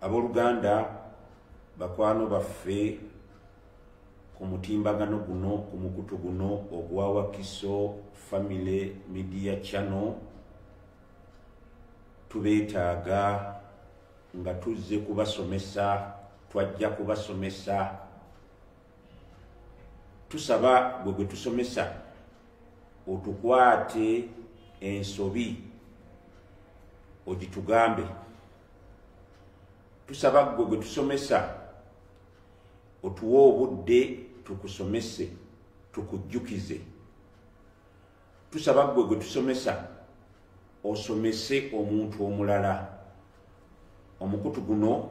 aboluganda bakwano baffe ku mutimbagano guno ku mukutu guno ogwa wakiso family media channel tubeetaaga nga tuzze kubasomesa twajja kubasomesa tusaba gwe gwe tusomesa otukwate ensobi ogitugambe tusaba gwe gwe tusomesa otuwe obudde tukusomese tukujjukize tusaba gwe gwe tusomesa osomese omuntu omulala omukutu guno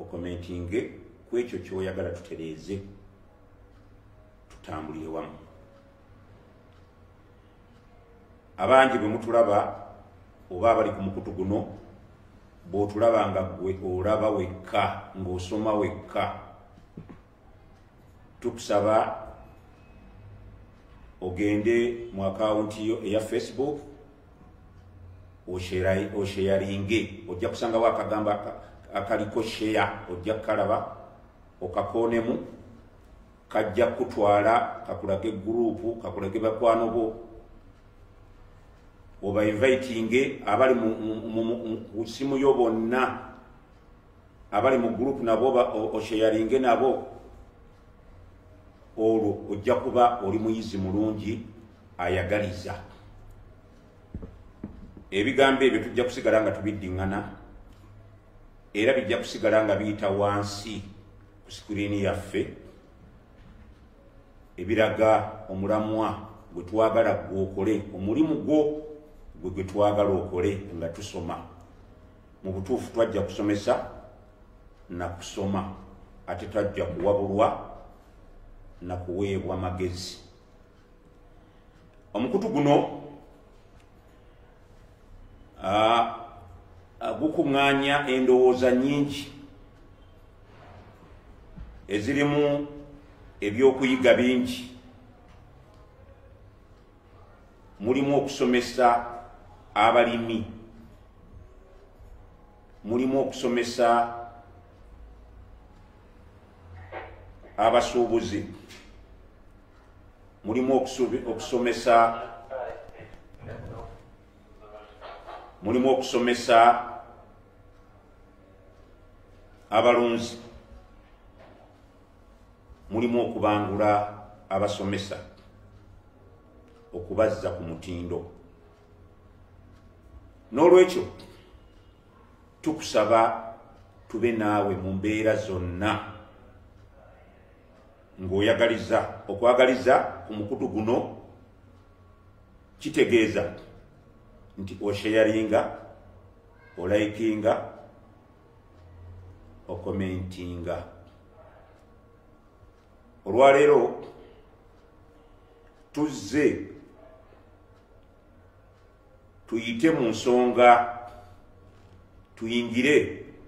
okomentinge ku ekyo kyoyagala tutereeze tutambulire wamu abangi bwe mutulaba oba abali ku mukutu guno bw'otulaba nga gwe olaba wekka ng'osoma wekka tukusaba ogende mu akawunti yo eya facebook osheyaringe ojja kusangawo akagambo akaliko sheya ojja kukalaba okakoonemu kajja kutwala kakulage gurupu kakulage bakwano bo obainvitinge abali mu simu yo bonna abali mu gurupu nabo osheyaringe nabo olwo ojja kuba oli muyizi mulungi ayagaliza ebigambo ebyo tujja kusigala nga tubiddiŋŋana era bijja kusigala nga biyita wansi ku sikuriini yaffe ebiraga omulamwa gwe twagala gwe okole omulimu gwo gwe gwe twagala okole nga tusoma mu butuufu twajja kusomesa na kusoma ate twajja kuwabulwa na kuweebwa magezi omukutu guno gukuŋŋaanya endowooza nyingi ezirimu ebyokuyiga bingi mulimu okusomesa abalimi mulimu okusomesa abasuubuzi mulimu okusomesa mulimu okusomesa abalunzi mulimu okubangula abasomesa okubazza ku mutindo n'olwekyo tukusaba tube naawe mu mbeera zonna ng'oyagaliza okwagaliza ku mukutu guno kitegeeza nti osheyaringa olayikinga okomentinga olwaleero tuzze tuyite mu nsonga tuyingire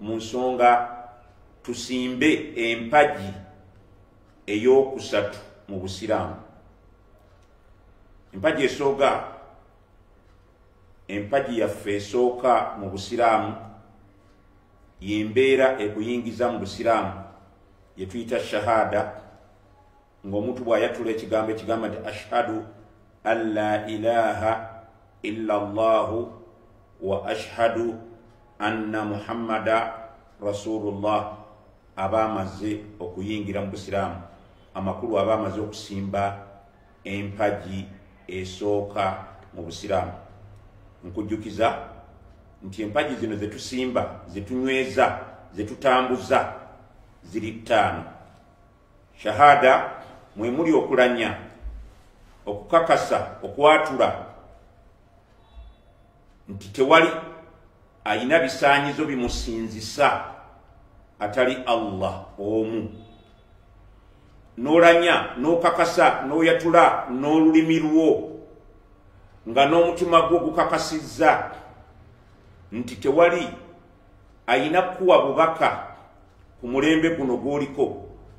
mu nsonga tusimbe empagi ey'okusatu mu busiraamu empagi esooga empagi yaffe esooka mu busiraamu yembeera ekuyingiza mu busiraamu yetuyita shahada ngaomuntu bwayatula ekigambo ekigamba nti ashhadu an la ilaha illa llahu wa ashhadu anna muhammada rasulullah aba amaze okuyingira mu busiraamu amakulu aba amaze okusimba empagi esooka mu busiraamu nkujjukiza nti empagi zino zetusimba zetunyweza zetutambuza ziri ttaano shahada mwe muli okulanya okukakasa okwatula nti tewali alina bisaanyizo bimusinzisa atali allah omu n'olanya n'okakasa n'oyatula n'olulimi lwo nga n'omutima gwo gukakasizza nti tewali ayina kukuwa bubaka ku mulembe guno gwoliko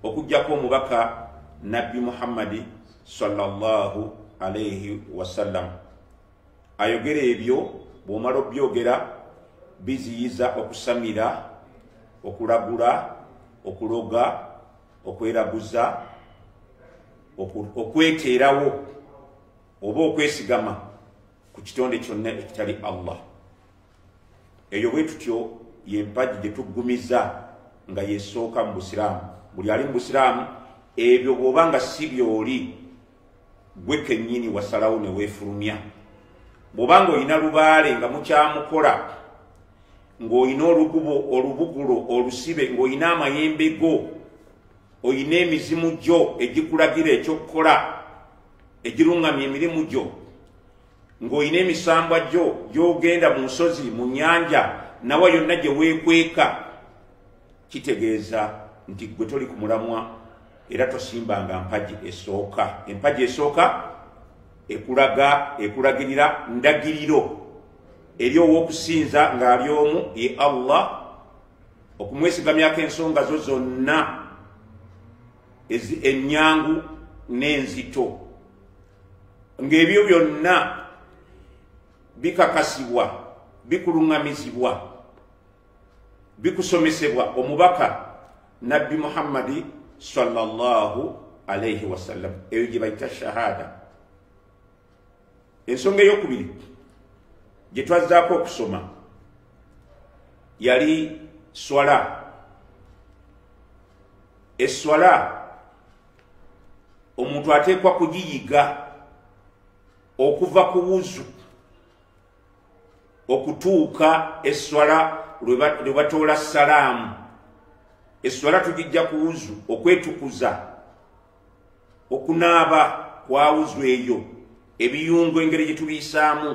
okugjako omubaka nabbi muhammadi sallallahu alaihi wasallam ayogera ebyo bw'omala obyogera biziyiza okusamira okulagula okuloga okweraguza okweteerawo oba okwesigama ku kitonde kyonna ekitali allah eyo bwe tutyo yempagi gye tuggumiza nga yesooka mu busiraamu buli ali mu busiraamu ebyo bw'oba nga si byoli gwe kenyini wasalawo ne wefulumya bwoba nga olina lubaale nga mukyamukola ng'olina olukubo olubugulo olusibe ng'olina amayembe go olina emizimu gyo egikulagira ekyokukola egiruŋŋamya emirimu gyo ng'olina emisambwa gyo gy'ogenda mu nsozi mu nnyanja nawa yonna gye weekweka kitegeeza nti gwe toli ku mulamwa era tosimbanga mpagi esooka empagi esooka ekulaga ekulagirira ndagiriro eri ow'okusinza ng'ali omu ye allah okumwesigamyako ensonga zo zonna ennyangu n'enzito ng'ebyo byonna bikakasibwa bikuluŋŋamizibwa bikusomesebwa omubaka nabbi muhammadi sallallahu alaihi wasallam eyo gye bayita shahada ensonga eyokubiri gye twazzaako okusoma yali swala eswala omuntu ateekwa kugiyiga okuva ku wuzu okutuuka esswala lwe batoola salaamu esswala tugijja ku wuzu okwetukuza okunaaba kwa wuzu eyo ebiyungo engeri gye tubiyisaamu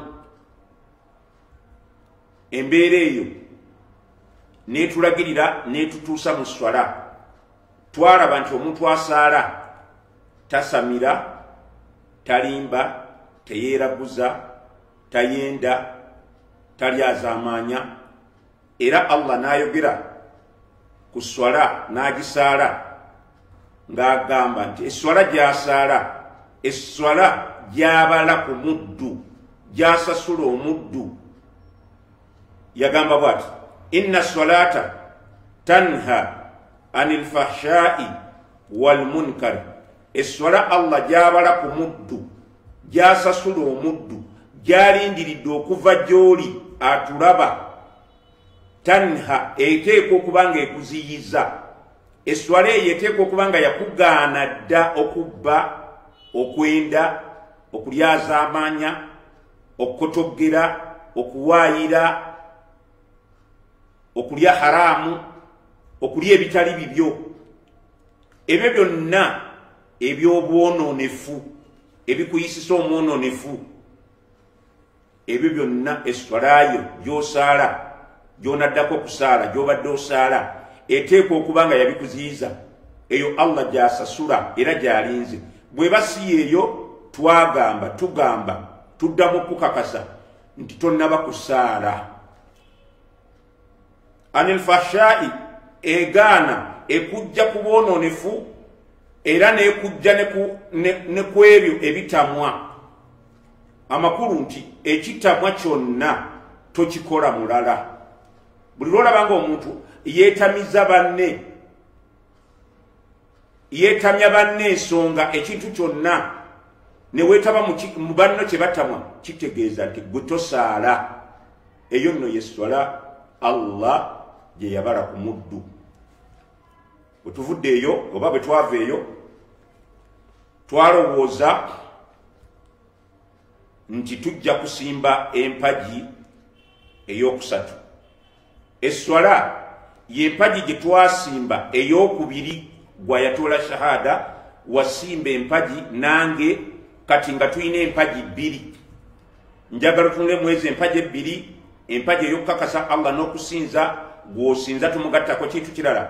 embeera eyo netulagirira netutuusa mu swala twalaba nti omuntu asaala tasamira talimba teyeeraguza tayenda tali azamaanya era allah n'ayogera ku swala n'agisaala ng'agamba nti eswala gy'asaala eswala gy'abala ku muddu gy'asasula omuddu yagamba bwati inna swalaata tanha ani lfahshai walmunkar esswala allah gyabala ku muddu gyasasula omuddu gyalindiridde okuva gy'oli atulaba tanha eteeka okuba nga ekuziyiza esswala eyo eteeka okuba nga yakugaana dda okubba okwenda okulyazaamaanya okukotoggera okuwaayira okulya haraamu okulya ebitali bibyo ebyo byonna ebyobwononefu ebikuyisisa omwononefu ebyo byonna eswalayo gyosaala gyonaddako okusaala gyobadde osaala eteekwa okuba nga yabikuziyiza eyo allah gyasasula era gyalinze bweba si yeeyo twagamba tugamba tuddamu okukakasa nti tonnaba kusaala anil fahshai egaana ekujja ku bwononefu era nekujja ne ku ebyo ebitamwa amakulu nti ekitamwa kyonna tokikola mulala buli lwolabanga omuntu yetamiza banne yeetamya banne ensonga ekintu kyonna ne weetaba mu banno kye batamwa kitegeeza nti gwe tosaala eyo nno ye sswala allah gye yabala ku muddu bwe tuvudde eyo oba bwe twava eyo twalowooza nti tujja kusimba empagi eyokusatu esswala yempagi gye twasimba eyokubiri gwayatoola shahada wasimba empagi nange kati nga tulina empagi bbiri njagala tunule mwezi empagi ebbiri empagi eyokukakasa allah n'okusinza gwosinza tumugattako kintu kirala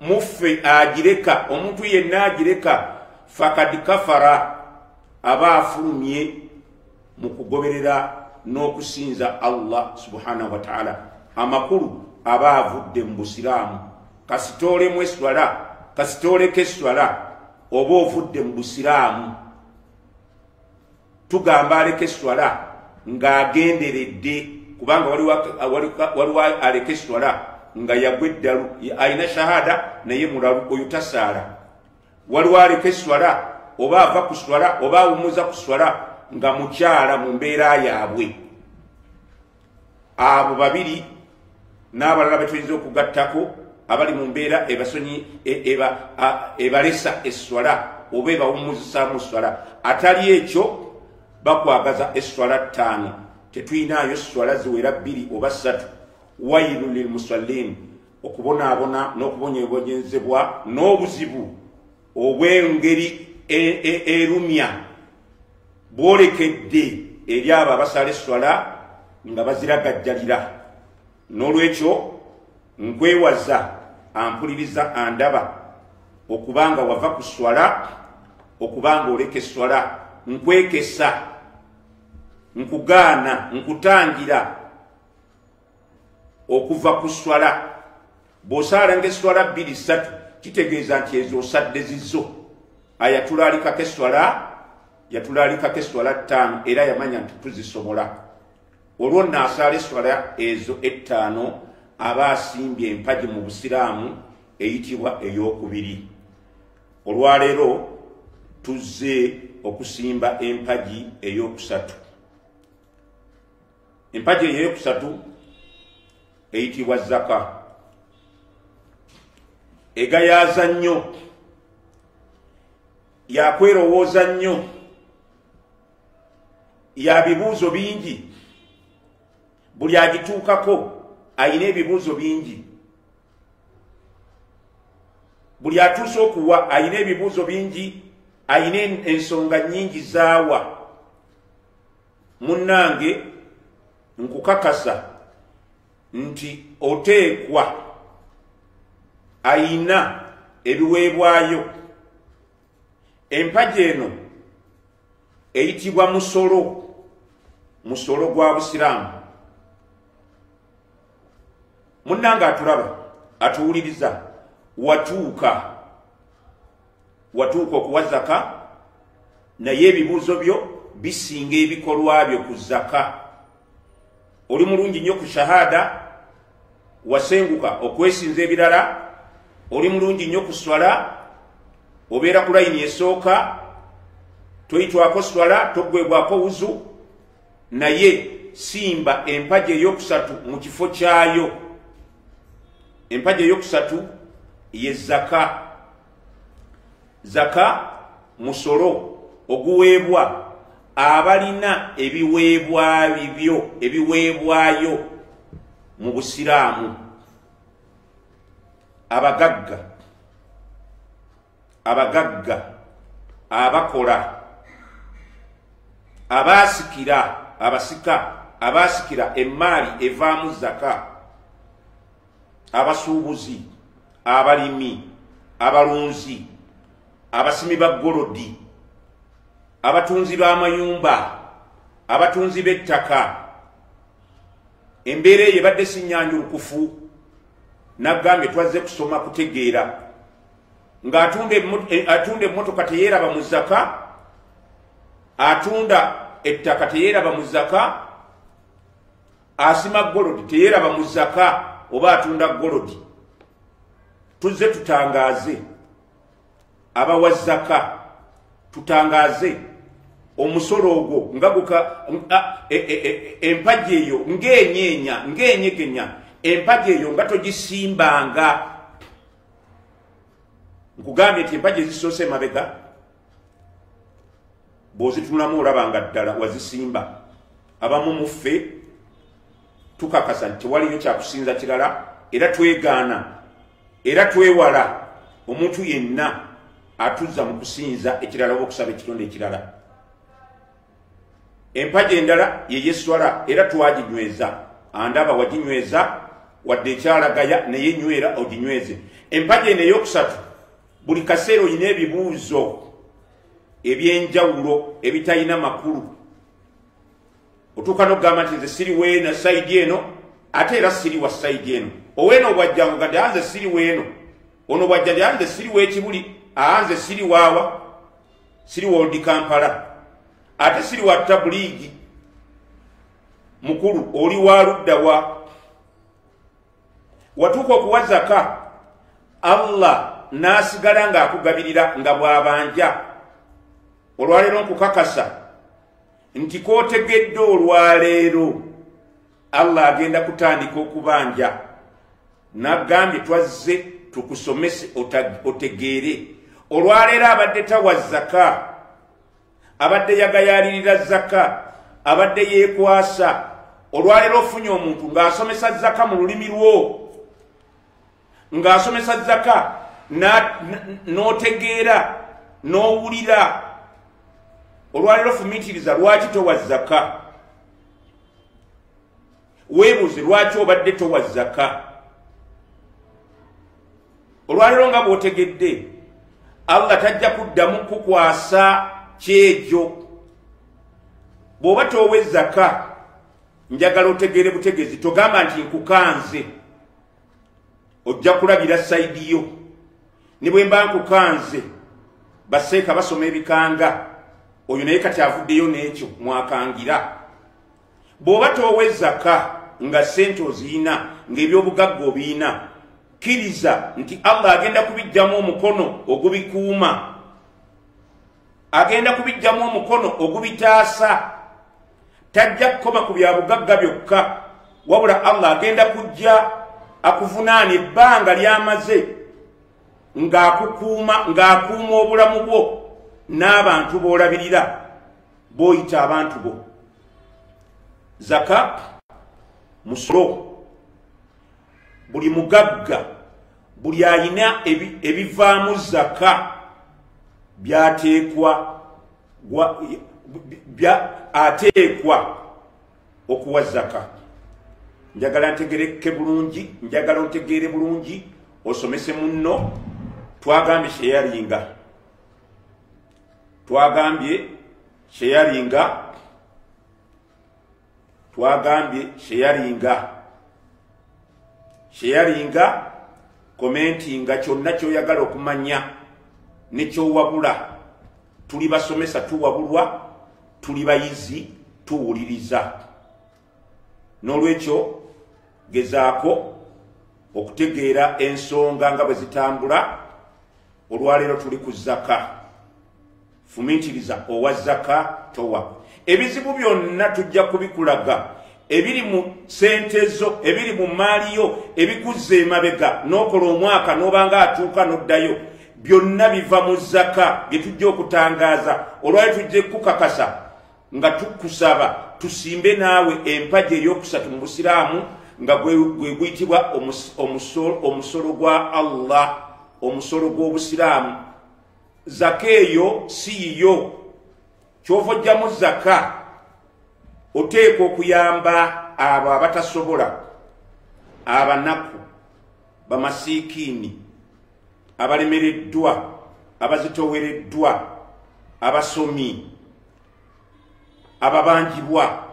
muffe agireka omuntu yenna agireka fakad kafara aba afulumye mu kugoberera n'okusinza allah subhanahu wataala amakulu aba avudde mu busiraamu kasitoolemu eswala kasitooleko eswala oba ovudde mu busiraamu tugamba aleka eswala ng'agenderedde kubanga waliwo aleka eswala nga yagwa eddalu alina shahada naye mulalu oyo tasaala waliwo aleka eswala oba ava ku swala oba awumuza ku swala nga mukyala mu mbeera yaabwe abo babiri n'abalala betuyinza okugattako abali mu mbeera ebasonyi e, ebalesa esswala oba ebawumuzisaamu esswala atali ekyo bakwagaza esswala ttaano tetuyinaayo esswala ziwera bbiri oba ssatu wailu lilmusallin okubonaabona n'okubonyebonyezebwa n'obuzibu obw'engeri e, e, erumya bwolekedde eri abo abasala esswala nga baziragajjalira n'olwekyo nkwewaza ampuliriza andaba okuba nga wava ku swala okuba nga oleka esswala nkwekesa nkugaana nkutangira okuva ku swala bw'osaala ng'esswala bbiri ssatu kitegeeza nti ezo osadde zizo ayatulaalikako esswala yatulaalikako esswala ttaano era yamanya nti tuzisobola olwo nno asaala esswala ezo ettaano aba asimbye empagi mu busiraamu eyitibwa ey'okubiri olwaleero tuzze okusimba empagi ey'okusatu empagi eyo eyokusatu eyitibwa zaka egayaaza nnyo yakwerowooza nnyo ya bibuuzo bingi buli agituukako ayina ebibuuzo bingi buli atuuse okuwa ayina ebibuuzo bingi ayina ensonga nyingi zaawa munnange nkukakasa nti oteekwa ayina ebiweebwayo empagi eno eyitibwa musolo musolo gwa busiraamu munnange atulaba atuwuliriza watuuka watuuka okuwa zaka naye ebibuuzo byo bisinga ebikolwa byo ku zaka oli mulungi nnyo ku shahada wasenguka okwesinza ebirala oli mulungi nnyo ku swala obeera ku layini esooka toyitwako swala togwebwako wuzu naye simba empaji eyokusatu mu kifo kyayo empaji eyokusatu ye zaka zaka musolo oguweebwa abalina ebiweebwabibyo ebiweebwayo mu busiraamu abagagga abagagga abakola abaasikira abasika abaasikira emmaali evaamu zaka abasuubuzi abalimi abalunzi abasimi ba golodi abatunzi b'amayumba abatunzi b'ettaka embeera eyo ebadde sinyanjulukufu nagambye twazze kusoma kutegeera ng'atunda e, emmotoka teyeeraba mu zaka atunda ettaka teyeeraba mu zaka asima golodi teyeraba mu zaka oba atunda golodi tuzze tutangaaze abawa zaka tutangaaze omusolo ogwo nga guka e, e, e, empagi eyo ng'enyeenya ng'enyegenya empagi eyo nga togisimbanga nkugambye nti empagi ezisoose emabega bw'ozitunulamu olaba nga ddala wazisimba abamu mu ffe tukakasa nti tewaliyo kyakusinza kirala era twegaana era twewala omuntu yenna atuzza mu kusinza ekirala oba okusaba ekitonde ekirala empaji endala yeyeswala era twaginyweza andaba waginyweza wadde ekyalagaya naye nywera oginyweze empaji eno eyokusatu buli kaseera olina ebibuuzo ebyenjawulo ebitalina makulu otuuka nokugamba nti nze siri weena saidi eno ate era siri wa saidi eno oweena obwajjangu gadde anze siri weeno ono bwajjadi anze siri wekibuli aanze siri waawa siri woldi kampala ate siri wa tabuliigi mukulu oli wa ludda wa watuuka okuwa zaka allah n'asigala ng'akugabirira nga bw'abanja olwaleero nkukakasa nti k'otegedde olwaleero allah agenda kutandika okubanja nagambye twazze tukusomese otegeere olwaleero abadde tawa zaka abadde yagayaalirira zaka abadde yeekwasa olwaleero ofunye omuntu ng'asomesa zaka mu lulimi lwo ng'asomesa zaka n'otegeera n'owulira olwaleero fumiitiriza lwaki towa zaka weebuuze lwaki obadde towa zaka olwaleero nga bwotegedde allah tajja kuddamu kukwasa kyejo bw'oba toowa ezzaka njagala otegeere butegezi togamba nti nkukanze ojja kulabira sayidi yo ne bwe mba nkukanze baseeka basoma ebikanga oyo naye kati avuddeyo n'ekyo mwakangira bw'oba toowa ezaka nga ssente oziyina ng'ebyobugagga obiyina kkiriza nti allah agenda kubijjamu omukono ogubikuuma agenda kubijjamu omukono ogubitaasa tajja kukoma ku bya bugagga byokka wabula allah agenda kujja akuvunaana ebbanga lyamaze ng'akukuuma ng'akuuma obulamu bwo n'abantu b'olabirira b'oyita abantu bo zaka musolo buli mugagga buli alina ebivaamu zaka byateekwa ateekwa okuwa zaka njagala ntegereke bulungi njagala otegeere bulungi osomese munno twagambye sheyaringa twagambye sheyaringa twagambye sheyaringa sheyaringa komentinga kyonna kyoyagala okumanya nekyowabula tuli basomesa tuwabulwa tuli bayizi tuwuliriza n'olwekyo gezaako okutegeera ensonga nga bwe zitambula olwaleero tuli ku zaka Fumitiriza owa zaka towa. Ebizibu byonna tujja kubikulaga ebiri mu sente zo ebiri mu mmaali yo ebikuzza emabega n'okola omwaka n'obanga atuuka n'oddayo byonna biva mu zaka bye tujja okutangaaza olwayo tujja ekukakasa nga tukusaba tusimbe naawe empagi ey'okusatu mu busiraamu nga gwe guyitibwa omusolo gwa allah omusolo gw'obusiraamu zaka eyo si yiyo kyova ojjamu zaka oteekwa okuyamba abo abatasobola abanaku bamasiikiini abalemereddwa abazitowereddwa abasomi ababanjibwa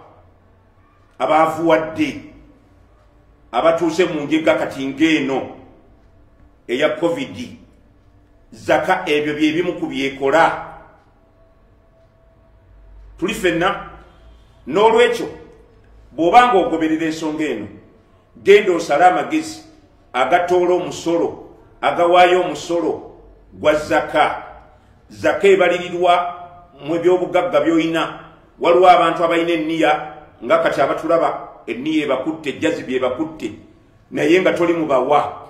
abaavuwadde abatuuse mu njega kati ng'eno eya covid zaka ebyo byebimu ku byekola tuli fenna n'olwekyo bw'oba nga ogoberera ensonga eno genda osale amagezi agatoola omusolo agawaayo omusolo gwa zaka zaka ebalirirwa mu ebyobugagga byolina waliwo abantu abalina enniya nga kati abatulaba enniya ebakutte ejjazibi ebakutte naye nga toli mubawa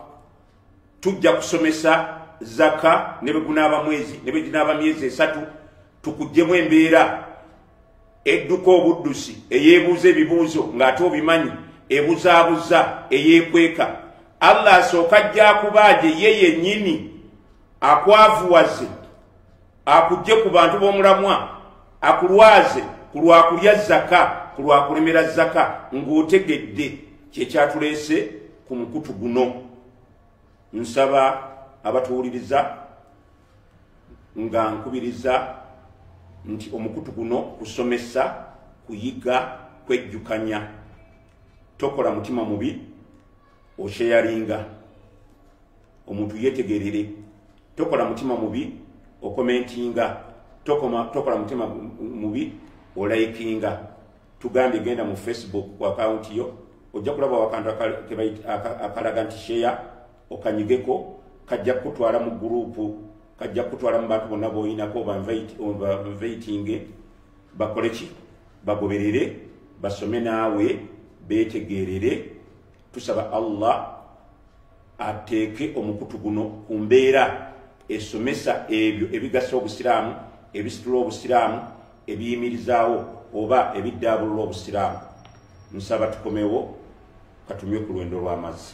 tujja kusomesa zaka ne bwe gunaaba mwezi ne bwe ginaaba myezi esatu tukuggyemu embeera edduka obuddusi eyeebuuza ebibuuzo ng'ate obimanyi ebuzaabuza eyeekweka allah asooka ajja akubaaje ye yennyini akwavuwaze akugje ku bantu b'omulamwa akulwaze ku lwakulya zaka ku lwakulemera zaka ng'otegedde kyekyatuleese ku mukutu guno nsaba abatuwuliriza nga nkubiriza nti omukutu guno kusomesa kuyiga kwejjukanya tokola mutima mubi okyeyalinga omuntu yetegerere tokola mutima mubi okomentinga tokola mutima mubi olayikinga tugambye genda mu facebook ku akawunti yo ojja kulaba wakantu akalaga nti sheya okanyigeko kajja kukutwala mu gurupu kajja kukutwala mu bantu bonna boyinako banveitinge bakoleki bagoberere basome naawe betegerere tusaba allah ateeke omukutu guno ku mbeera esomesa ebyo ebigasa obusiraamu ebisitula obusiraamu ebiyimirizaawo oba ebiddaabulula obusiraamu nsaba tukomewo katumye ku lwendo lw'amazzi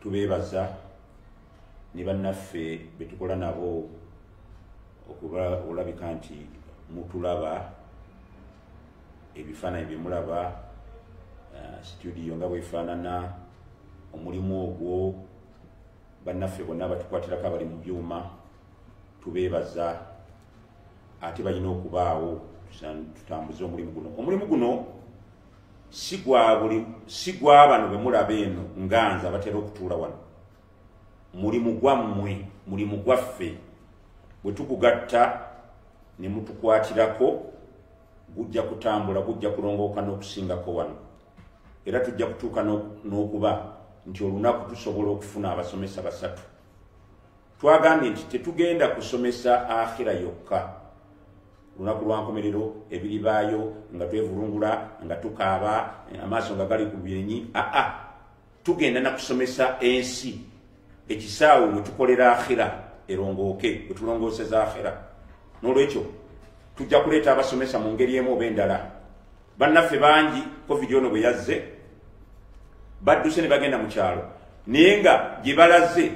tubeebaza ne bannaffe be tukola nabo okuba olabika nti mutulaba ebifaananyi bye mulaba eh, situdiyo nga bwefaanana omulimu ogwo bannaffe bonna batukwatirako abali mu byuma tubeebaza ate balina okubaawo tutambuze omulimu guno omulimu guno si gwa bano be mulaba eno nga nze abatera okutuula wano mulimu gwammwe mulimu gwaffe bwe tugugatta ne mutukwatirako gujja kutambula gujja kulongooka n'okusingako wano era tujja kutuuka n'okuba nti olunaku tusobola okufuna abasomesa basatu twagambye nti tetugenda kusomesa akhira yokka lunaku lwankomerero ebiri baayo nga twevulungula nga tukaaba amaaso nga gali ku byenyi aa tugenda nakusomesa ensi ekisaawe wetukolera akhira erongooke wetulongooseza akhira nolwekyo tujja kuleeta abasomesa mu ngeri emu oba endala bannaffe bangi covid ono bwe yazze badduse ne bagenda mu kyalo naye nga gye balaze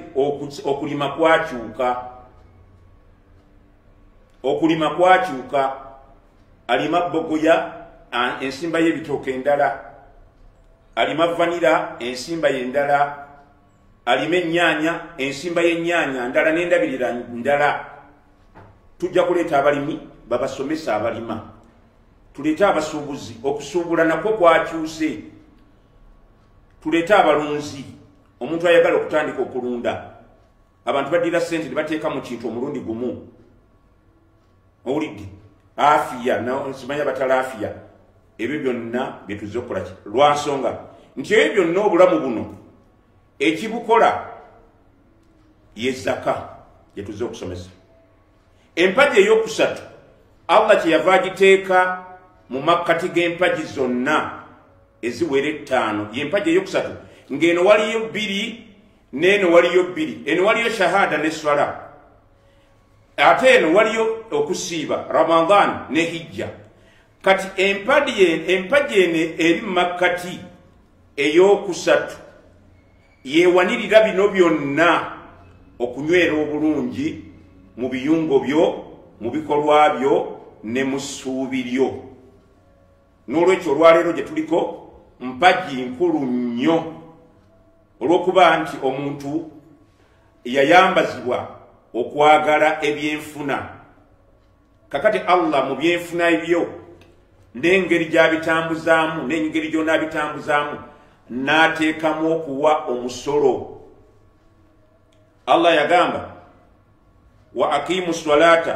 okulima kwakyuka okulima kwakyuka alima bogoya ensimba y'ebitooka endala alima vanira ensimba yendala alima ennyaanya ensimba y'ennyaanya ndala n'endabirira ndala tujja kuleeta abalimi babasomesa abalima tuleete abasuubuzi okusuubula nakwo kwakyuse tuleete abalunzi omuntu ayagala okutandika okulunda abantu badira sente nebateeka mu kintu omulundi gumu owulidde afiya simanya batala afiya ebyo byonna byetuze okukolaki lwansonga nti ebyo byonna obulamu buno ekibukola yezaka gyetuze okusomesa empagi eyokusatu allah kyeyava agiteeka mu makkati g'empagi zonna eziwera ettaano yempagi eyokusatu ng'eno waliyo bbiri neeno waliyo bbiri eno waliyo shahada ne swala ate eno waliyo okusiiba ramadan ne hijja kati empaji eno eri mumakkati eyokusatu yewanirira bino byonna okunywera obulungi mu biyungo byo mu bikolwa byo ne mu ssuubi lyo n'olwekyo olwaleero gye tuliko mpagi nkulu nnyo olw'okuba nti omuntu yayambazibwa okwagala ebyenfuna kakati allah mu byenfuna ebyo n'engeri gy'abitambuzaamu n'engeri gy'onaabitambuzaamu n'ateekamu okuwa omusolo allah yagamba wa aqimu swalaata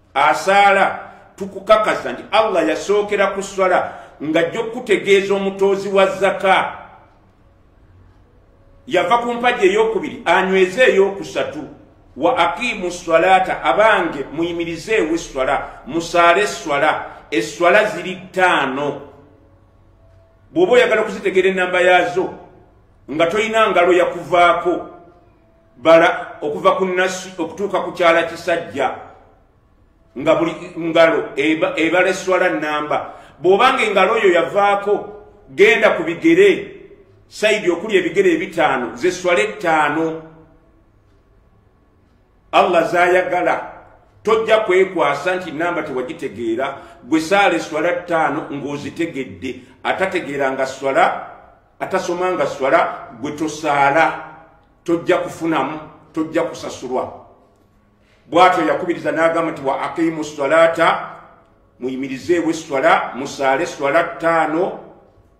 asaala tukukakasa nti allah yasookera ku swala ng'ajja okukutegeeza omutoozi wa zaka yava ku mpagi eyokubiri anyweze eyokusatu wa aqimu swalaata abange muyimirizeewo esswala musaale esswala esswala ziri ttaano bw'oba oyagala okuzitegeera ennamba yaazo nga tolina ngalo yakuvaako bala okuva ku nasi okutuuka ku kyala kisajja nga buli ngalo ebala eswala namba bw'obanga engalo oyo yavaako genda ku bigere saidi okuli ebigere ebitaano zeswala ettaano allah zayagala tojja kwekwasa nti namba tewagitegeera gwe saala eswala ttaano ng'ozitegedde atategeera nga swala atasoma nga swala gwe tosaala tojja kufunamu tojja kusasulwa bwatyo yakubiriza n'agamba nti wa aqimu swalata muyimirizeewo esswala musaale esswala ttaano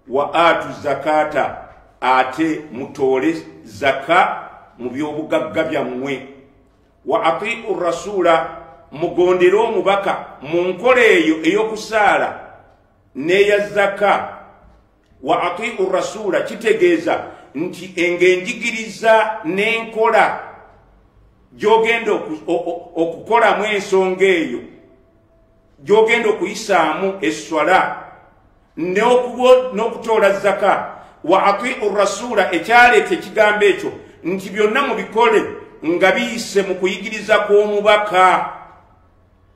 wa atu zakata ate mutoole zaka mu byobugagga byammwe wa atiu rasuula mugondere omubaka mu nkola eyo ey'okusaala n'eya zaka wa atiu rasuula kitegeeza nti engenjigiriza n'enkola gy'ogenda okukolamu ensonga eyo gy'ogenda okuyisaamu esswala n'okutoola zaka wa atiu rasuula ekyaleeta ekigambo ekyo nti byonna mubikole nga biyise mu kuyigiriza kw'omubaka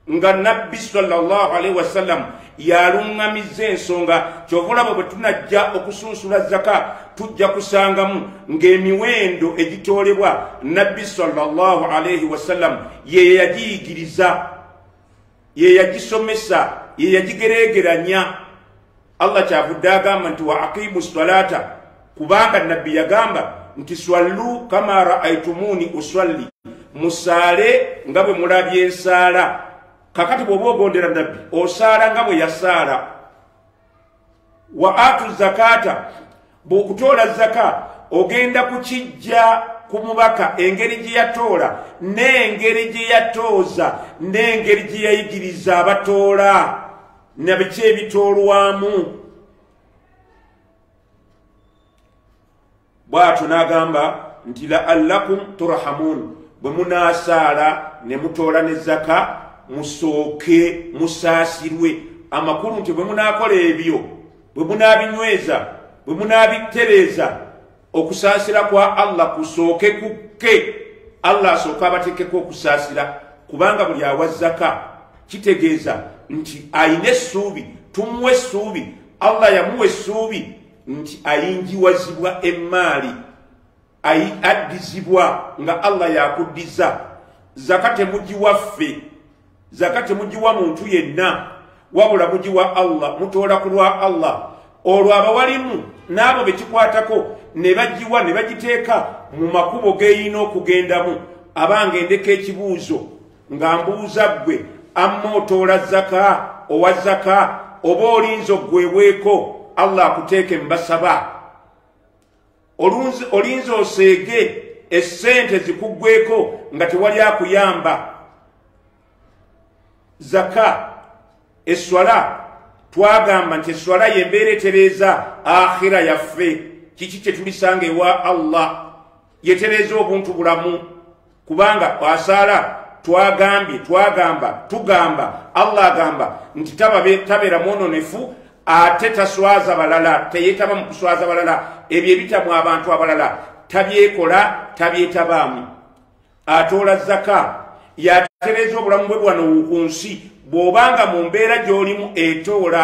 nga nabbi salllah alaihi wasallam yaluŋŋamizza ensonga kyova olaba bwe tunajja okusunsula zaka tujja kusangamu ng'emiwendo egitoolebwa nabbi salllah alaihi wasallam ye yagiyigiriza ye yagisomesa ye yagigereegeranya allah kyavudde agamba nti wa aqimu salata kubanga nabbi yagamba nti swallu kama raaitumuuni uswalli musaale nga bwe mulabye nsaala kakati bw'oba ogondera nabbi osaala nga bwe yasaala wa atu zakata bw'okutoola zaka ogenda kukijja ku mubaka engeri gye yatoola n'engeri gye yatooza n'engeri gye yayigiriza abatoola na biki ebitoolwamu bw'atyo n'agamba nti la allakum turhamuun bwe munaasaala ne mutoola ne zaka musooke musaasirwe amakulu nti bwe munaakola ebyo bwe munaabinyweza bwe munaabittereeza okusaasira kwa allah kusooke kukke allah asooke abateekeko okusaasira kubanga buli awa zaka kitegeeza nti ayina essuubi tumuwa essuubi allah yamuwa essuubi nti ayingiwazibwa emmaali ayi addizibwa nga allah yakuddiza zaka temugiwa ffe zaka temugiwa muntu yenna wabula mugiwa allah mutoola ku lwa allah olwo abawalimu n'abo be kikwatako ne bagiwa ne bagiteeka mu makubo geyina okugendamu abange ndeka ekibuuzo nga mbuuza ggwe amma otoola zaka owa zaka oba olinza oggwebweko allah akuteeke mbasaba olinza oseege essente zikuggweko nga tewali akuyamba zaka eswala twagamba nti eswala yembeera etereeza akhira yaffe kiki kyetulisanga ewa allah yetereeza obuntu bulamu kubanga asaala twagambye twagamba tugamba allah agamba nti tabeera mwononefu ate taswaza balala teyetaba mu kuswaza balala ebyo ebitamu abantu abalala tabyekola tabyetabaamu atoola zaka yatereeza obulamu bwe bwanowu ku nsi bw'obanga mu mbeera gy'olimu etoola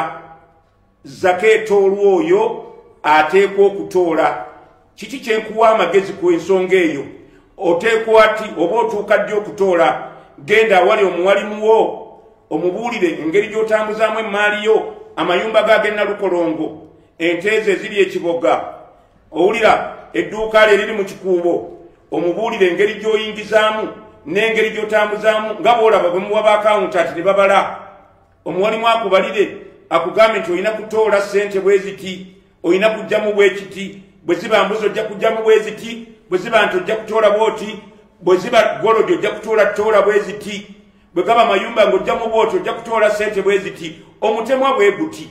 zaka etoolwa oyo ateekwa okutoola kiki kyenkuwa amagezi ku ensonga eyo oteekwa ti oba otuuka ddi okutoola genda awali omuwalimu wo omubuulire engeri gy'otambuzaamu emmaali yo amayumba g'agennalukolongo enteezo eziri ekiboga owulira edduuka lye liri mu kikuubo omubuulire engeri gy'oyingizaamu n'engeri gy'otambuzaamu nga bw'olaba bwe muwa baakawuntanti ne babala omuwalimu akubalire akugambe nti olina kutoola sente bweziti olina kujjamu bwekiti bwe ziba mbuzi ojja kujjamu bweziti bwe ziba nti ojja kutoola bwoti bwe ziba golodi ojja kutoola toola bweziti bwe gaba mayumba ng'ojjamu bwoti ojja kutoola sente bweziti omutemwa bweguti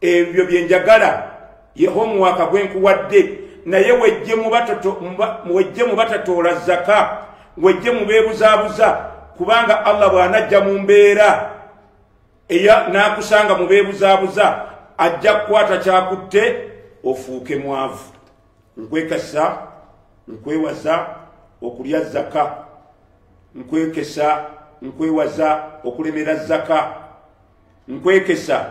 ebyo bye njagala yehomuwaaka gwe nkuwadde naye wejje mu batatoola zaka wejje mu beebuzaabuza kubanga allah bw'anajja mu mbeera eya n'akusanga mu beebuzaabuza ajja kukwata kyakutte ofuuke mwavu nkwekasa nkwewaza okulya zaka nkwekesa nkwewaza okulemera zaka nkwekesa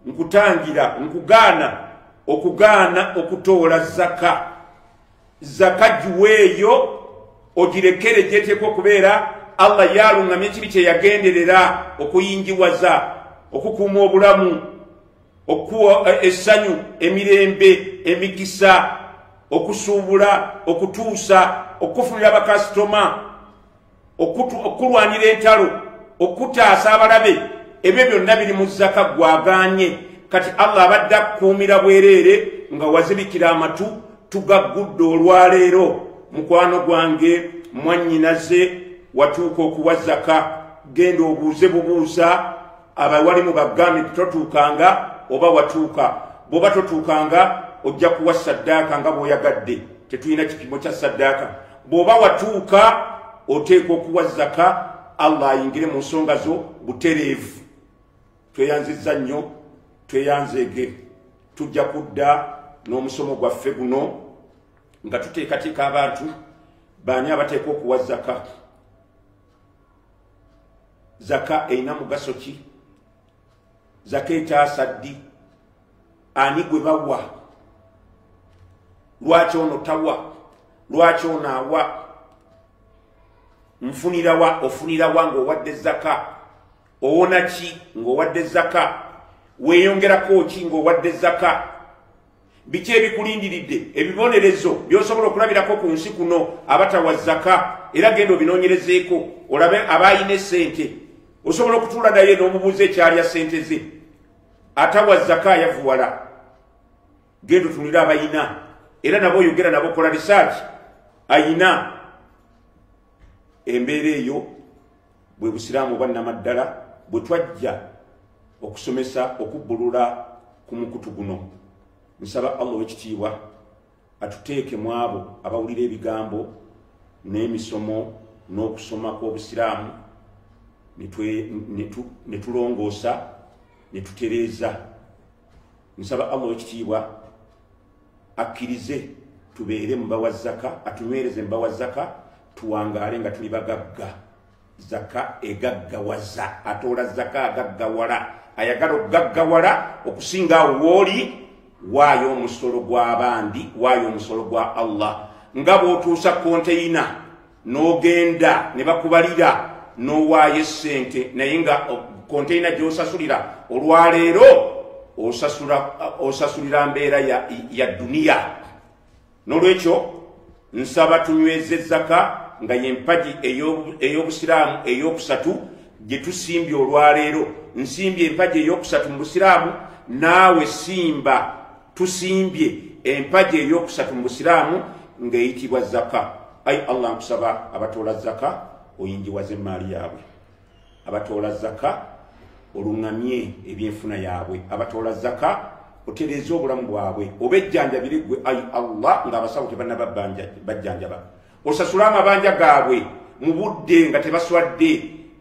nkutangira nkugaana okugaana okutoola zaka zaka giweeyo ogirekere gyeteeka okubeera allah yaluŋŋamya ekibi kye yagenderera okuyingiwaza okukuuma obulamu okuwa eh, essanyu emirembe emikisa okusuubula okutuusa okukufunira bakasitoma okukulwanira entalo okutaasa abalabe ebyo byonna biri mu zaka gwagaanye kati allah abadde akukuumira bwereere nga wazibikira amatu tugaggudde olwaleero mukwano gwange mwannyinaze watuuka okuwa zaka genda obuuze bubuuza abawalimu bagambye nti totuukanga oba watuuka bw'oba totuukanga ojja kuwa saddaaka nga bw'oyagadde tetulina kipimo kya saddaaka bw'oba watuuka oteekwa okuwa zaka allah ayingire mu nsonga zo butereevu tweyanzizza nnyo tweyanzeege tujja kudda n'omusomo gwaffe guno nga tuteekateeka abantu baani abateekwa okuwa zaka zaka erina mugaso ki zaka etaasa ddi ani gwe bawa lwaki ono tawa lwaki ono awa nfunirawa ofunirawa ng'owadde zaka owona ki ng'owadde zaka weeyongerako ki ng'owadde zaka biki ebikulindiridde ebibonerezo byosobola okulabirako ku nsi kuno abatawa zaka era genda obinoonyerezeeko olabe abaayina esente osobola okutuula naye n'omubuuza ekyalya sente ze atawa zaka yavuwala genda otunulire abayina era nabo oyogera nabo kola risaaki ayina embeera eyo bwe busiraamu oba namaddala bwe twajja okusomesa okubbulula ku mukutu guno nsaba allah owekitiibwa atuteeke mu abo abawulira ebigambo n'emisomo n'okusoma kw'obusiraamu ne tulongoosa ne tutereeza nsaba allah owekitiibwa akkirize tubeere mubawa zaka atunywereze mubawa zaka tuwangaale nga tuli bagagga zaka egaggawaza atoola zaka agaggawala ayagala okugaggawala okusinga awo wooli waayo omusolo gw'abandi waayo omusolo gwa allah nga bw'otuusa konteyina n'ogenda ne bakubalira n'owaayo essente naye nga konteyina gy'osasulira olwaleero osasulira mbeera ya duniya n'olwekyo nsaba tunyweza ezzaka nga yempagi ey'obusiraamu ey'okusatu gye tusimbye olwaleero nsimbye empagi ey'okusatu mu busiraamu naawe simba tusimbye empaji eyokusatu mu busiraamu ng'eyitibwa zaka ayi allah nkusaba abatoola zaka oyingiwaza emmaali yaabwe abatoola zaka oluŋŋamye ebyenfuna yaabwe abatoola zaka otereeza obulamu bwabwe oba ejjanjabire gwe ayi allah ng'abasawo tebanaba bajjanjaba osasule amabanja gaabwe mu budde nga tebaswadde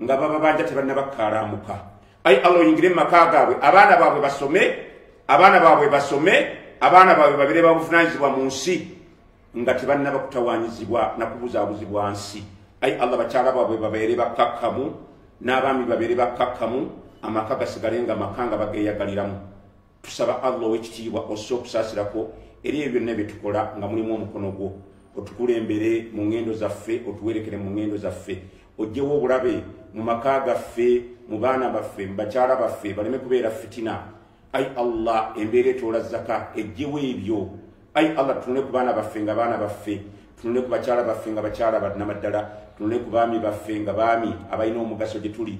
nga bababanja tebannabakkaalamuka ayi allah oyingire mu maka gaabwe abaana baabwe basome abaana baabwe basome abaana baabwe babire babuvunanyizibwa mu nsi nga tebanna bakutawanyizibwa nakubuzaabuzibwa nsi ayi allah bakyala baabwe babeere bakkakkamu n'abaami babeere bakkakkamu amaka gasigale nga maka nga bageeyagaliramu tusaba allah owekitiibwa ossa okusaasirako eri ebyo byonna bye tukola nga mulimu omukono gwo otukulembere mu ŋŋendo zaffe otuwerekere mu ŋŋendo zaffe ojjewo obulabe mu maka gaffe mu baana baffe mu bakyala baffe baleme kubeera fitina ai allah embeera etoola zaka ejjewo ebyo ai allah tunule ku baana baffe nga baana baffe tunule ku bakyala baffe nga bakyala banamaddala tunule ku baami baffe nga baami abalina omugaso gye tuli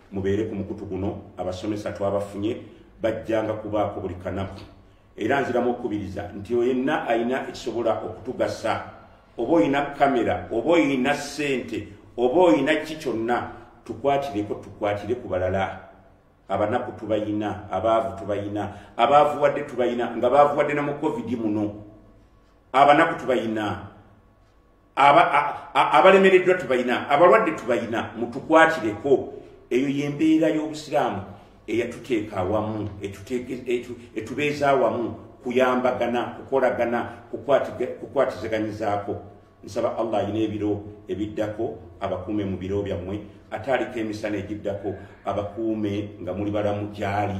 mubeere ku mukutu guno abasomesa twabafunye bajjanga kubaako buli kanaku era nziramu okukubiriza nti oyo yenna alina ekisobola okutugasa oba olina kamera oba olina ssente oba olina ki kyonna tukwatireko tukwatire ku balala abanaku tubayina abaavu tubayina abaavuwadde tubayina nga baavuwadde na mu covid muno abanaku tubayina abalemereddwa tubalina abalwadde tubalina mutukwatireko eyo yembeera y'obusiraamu eyatuteeka awamu etubeeza awamu kuyambagana kukolagana kukwatizaganyizaako nsaba allah alina ebiro ebiddako abakuume mu biro byammwe ate aliko emisana egiddako abakuume nga muli balamu gyali